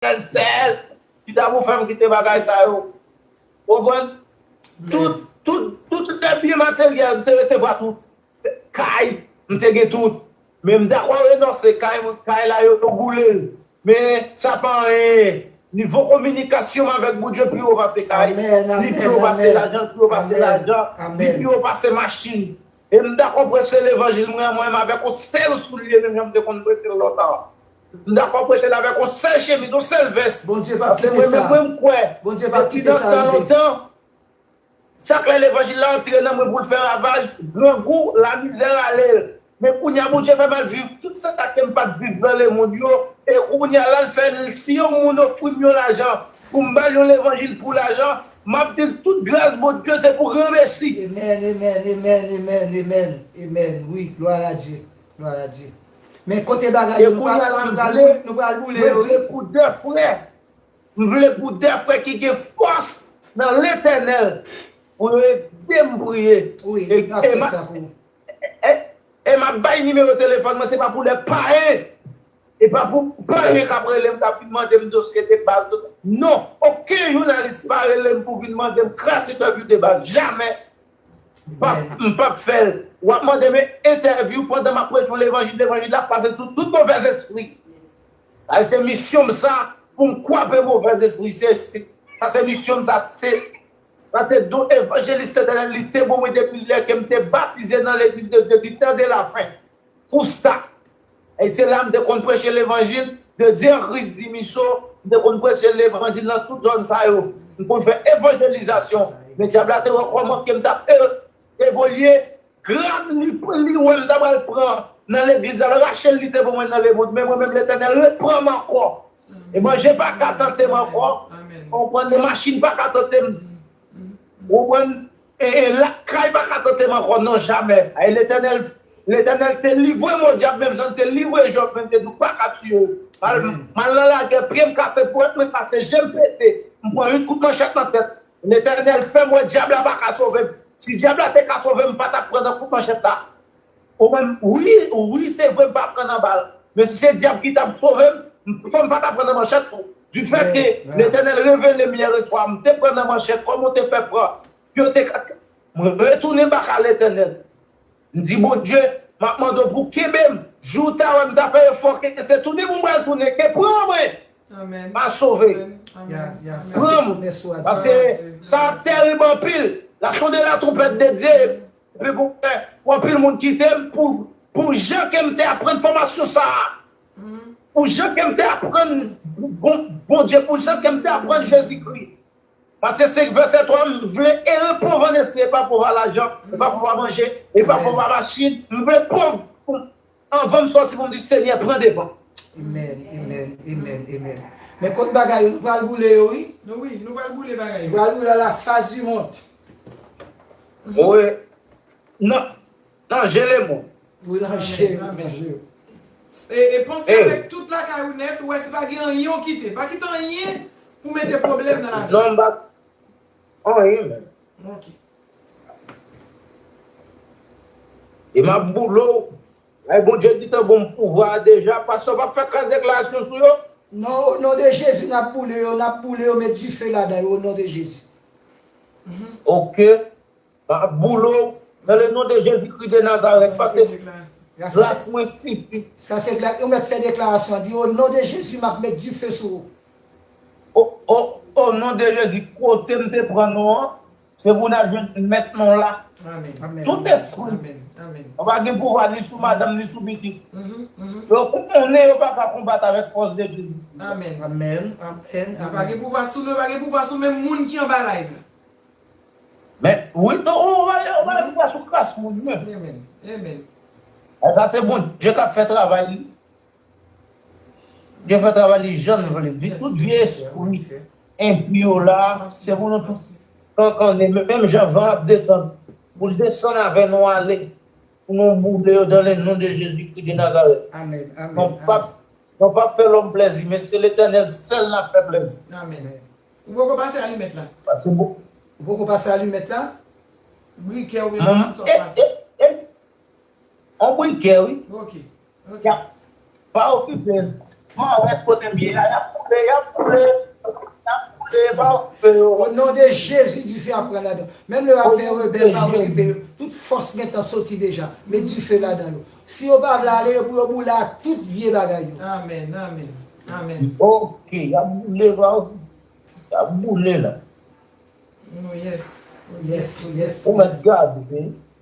Sèl sèl ki ta pou fèm kite bagay sa yo konprann tout tout tout lè byen materyèl m te resevwa tout kay m te gen tout men m dakò renonse kay mwen kay la yo boule l men sa pa anyen nivo kominikasyon m avèk Bondye pi wo pase kay li pi wo pase lajan li pi wo pase lajan li pi wo pase machin e m dakò preche levanjil mwen mwen m avèk yon sèl soulye menm jan m te konn preche l lontan. M dakò preche l avèk yon sèl chemiz, yon sèl vès. Bondye pap kite sa. Pase mwen menm wi m kwè. Bondye pap kite sa rive. Depi nan tan lontan, sa klè levanjil la antre nan mwen pou l fè ravaj, grangou, lamizè rale l. Men kounya Bondye fè m al viv tout sa ke m pat viv nan lemonn yo, e kounya la l fè si yon moun ofri m yon lajan pou m ba l yon levanjil pou lajan, m ap di l tout gras Bondye se pou granmesi. Amen, amen, amen, amen, amen, amen wi glwa a Dye. Gloire a Dieu. Men kote bagay yo nou pral boule yo wi. M vle pou 2 frè ki gen fòs nan Letènèl pou yo edem priye e map bay nimewo telefòn mwen se pa pou lè payen e pa pou payen kap relem kap vin mandem dosye de bal non oken jounalis pa relem pou vin mandem krasi dòbi de bal jamè. Bab m pap fèl wap mandem entèvyou pandan map preche levanjil levanjil la pase sou tout movèzespri sa se misyon m sa poum kwape movèzespri se sa se misyon m sa se sa se don evanjelis letènèl li te bon mwen depi lè kem te batize nan legliz de Dye di tan de lafen Kousta, Ey se la m te konn preche levanjil de Dye Kris di Miso, m te konn preche levanjil nan tout zòn sa yo, m konn fè evanjelizasyon, men dyab la te wè kòman pye m t ap evolye, gram li wè m ta pral pran nan legliz la l rache l li te ban mwen nan lemond, men mwen menm Letènèl repran m ankò, e manje pa ka tante m ankò, ou konprann, e machin pa ka tante m, ou konprann. Ee lakay paka tantem ankò non jamè Ayy letènèl letènèl te livwem o dyab menm janl te livwe jòb menm te di ou paka tiyew mal nan lagè pyem kase fouèt mwen kase jem pete mpran 8 kout manchèt nan tèt letènèl fèm wè dyab la paka sovem si dyab la te ka sovem mpatap pran nan kout manchèt la Ou wèm wi wi se vre m pa pran nan bal men si se dyab ki tap sovem fò m pa ta pran nan manchèt tou du fèt ke letènèl revelem yèreswa m te pran nan manchèt kòman ou te fè pran pou yo te ka m retounen baka letènèl m di Bondye map mande w pou w kenbe m jou ta wè m ta fè efò ke se tounen pou m pral tounen ke pran mwen pa sove pran m paske sa ap terib anpil la sonde la tronpèt de Dye Epi pou kè pou anpil moun kite m pou pou jan ke m te aprann fòmasyon sa a, pou jan ke m te aprann Bon Bondye, pou jan ke m te aprann Jezikri. Matye 5 vèsè 3, m vle ere pòv an espri e pa pòv a lajan, e pa pòv a manje, e pa pòv a machin, m vle pòv pou Anvanm sòti poum di senyè pran devan. Amen amen amen amen men kot bagay yo nou pral boule yo wi. Nou wi nou pral boule bagay yo. Nou pral boule a la face du monde. Mwe nan nan je le mond. Mwe nan je yo nan je yo. E panse avek tout lakay ou net ou we si pa gen anyen ou kite pa kite anyen pou mete problem nan lavi. Non m pa anyen menm. Ok. E map boule w. Ay Bondye gitan gonm pouvwa a deja pastè ou pap fè kras deklarasyon sou yo. Non o non de jezi nap boule yo nap boule yo met dife ladan yo o non de jezi humm. Ok map boule w nan le non de jezi kri de nazarèt pase gras mwen sifi. Sa se glas ou met fè deklarasyon di o non de jezi map met dife sou ou. Oh oh oh non de jezi kotem te pran nou an se pou nap jwenn mèt nou la tout espri an pa gen pouvwa ni sou madanm ni sou pitit yo konnen yo pa ka konbat avèk fòs de jezi kris la yo pa gen pouvwa sou nou yo pa gen pouvwa sou menm moun ki anba live la men wi non yo pa gen pouvwa sou kras moun yo sa se bondye kap fè travay li Dieu fè travay li janl vle di tout vye espri enpi yo la se pou nou tout kankannen menm jan van ap desann poul desann avè nou ale pou nou boule yo dan le non de Jezi kri de Nazareth nou pap fè lòm plèzi men se letènèl sèl nap fè plèzi pase bon Manman e e e. On bri gè wi yap pa okipe man wè kotem ye a yap boule yap boule yap boule pa okipe yo. O non de jezi dife ap pran ladan menm lè yap fè rebèl pa okipe yo tout fòs gentan soti deja met dife ladan yo si yo pa vle ale yo pou yo boule ak tout vye bagay yo. Amen amen amen. Ok yap boule pa okipe yap boule la. Ou mèt gade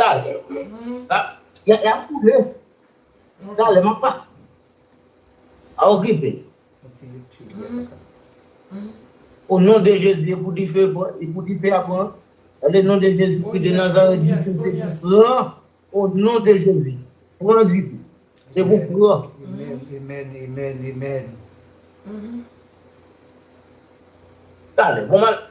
Talè. Ya ya koule. Talè map pa. Pa okipe. O non de Jezi e pou dife e pou dife a pran. O le non de Jezi kri de Nazareth dife se pou pran. O non de Jezi. Pran dife. Se pou pran. Amen amen amen amen. Talè. Bon mal.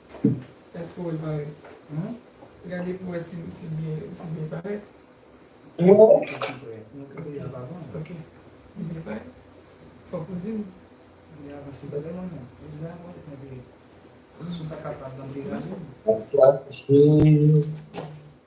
Eske ou wèl parèt? Humm gade pou wè si li byen parèt. Ok li byen parèt? Fòk ou dim. Humm.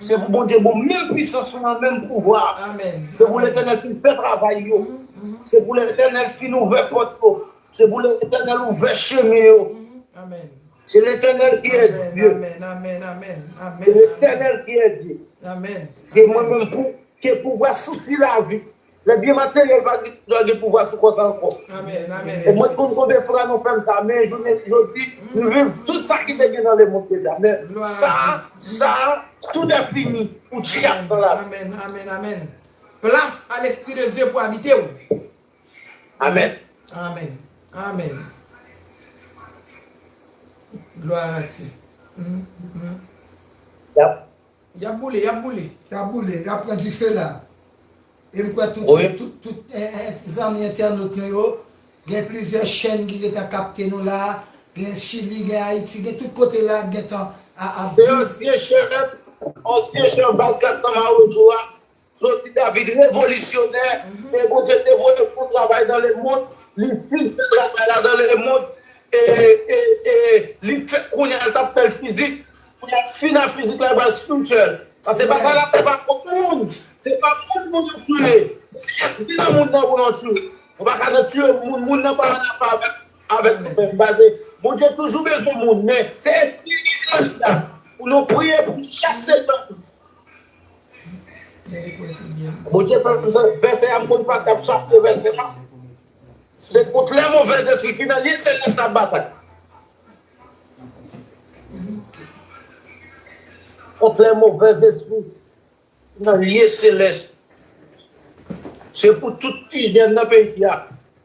Se pou Bondye bon menm pwisans lan menm pouvwa se pou letènèl fin fè travay yo se pou letènèl fin ouvè pòt yo se pou letènèl ouvè chemen yo se letènèl kiyè Dye se letènèl kiyè Dye ke mwen menm pou ke pouvwa sousi lavi. Lè byen materyèl pa dwa gen pouvwa sou kò sa ankò. E mwen konn konbyen fwa nou fè m sa, men jounen jodi, m viv tout sa ki te gen nan lemonn deja. Men, sa, sa, tout è fini, ou tchiak nan lavi. Amen, amen, amen. Plas a lespri de Dye pou abite ou. Amen. Amen, amen. Gloire à Dieu. Yap Y ap boule, y ap boule. Y ap boule, y ap pran dife la. E m kwè tout zanmi entènot nou yo, gen plizyè chèn ki gentan kapte nou la, gen Chili, gen Ayiti, gen tout kote la k gentan ap viv. Se ansyen chèf, ansyen chèf baz 400 Mawozo a, Jodi David revolisyonè e Bondye te voye fon travay dan le mond, li fin fè travay la dan le mond e e li fè kounye a l tap fè l fizik kounye a fin a fizik la pral spiritual pase batay la se pa kont moun se pa moun pou nou tiye men se espri nan moun nan pou nou tiye nou pa ka nan tiye moun, moun nan pa anafè avèk avèk nou menm pase Bondye toujou bezwen moun men se espri li gen nan li a pou nou priye pou chase dèmon. Bondye fè m sot vèsè a m konn pas kap chache vèsè a se kont lè movèz espri ki nan lye se lè sa batay kont lè movèz espri ki nan lye se lè sa se pou tout ti jèn nan peyi a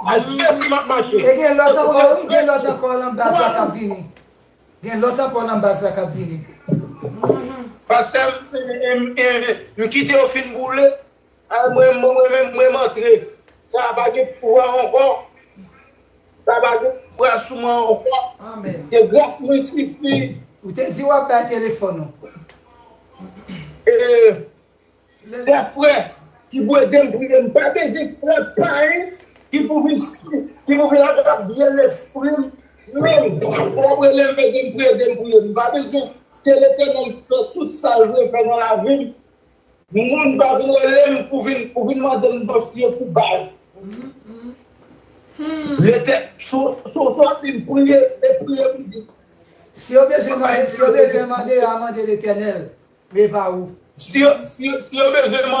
E gen lòt ankò wi, gen lòt ankò l anba sa k ap vini. Gen lòt ankò l anba sa k ap vini. Pastè m kite yo fin boule mwen menm m antre. Sa a pa gen pouvwa ankò. Sa a pa gen pouvwa sou mwen ankò. Ke gras mwen sifi. Ou te di w ap bay telefòn ou. Lè frè ki pou ede m priye m pa bezwen frè payen ki pou vin ki pou vin agrabye lespri m menm frè ap rele m ede m priye ede m priye m pa bezwen ke letènèl fè tout sa l vle fè nan lavi m moun pa vin rele m pou vin pou vin mande m dosye pou baz letè sou sou ap di m priye e priye m di Si yo bezwen mande a, mande Letènèl. Prepare ou. Si yo bezwen mande.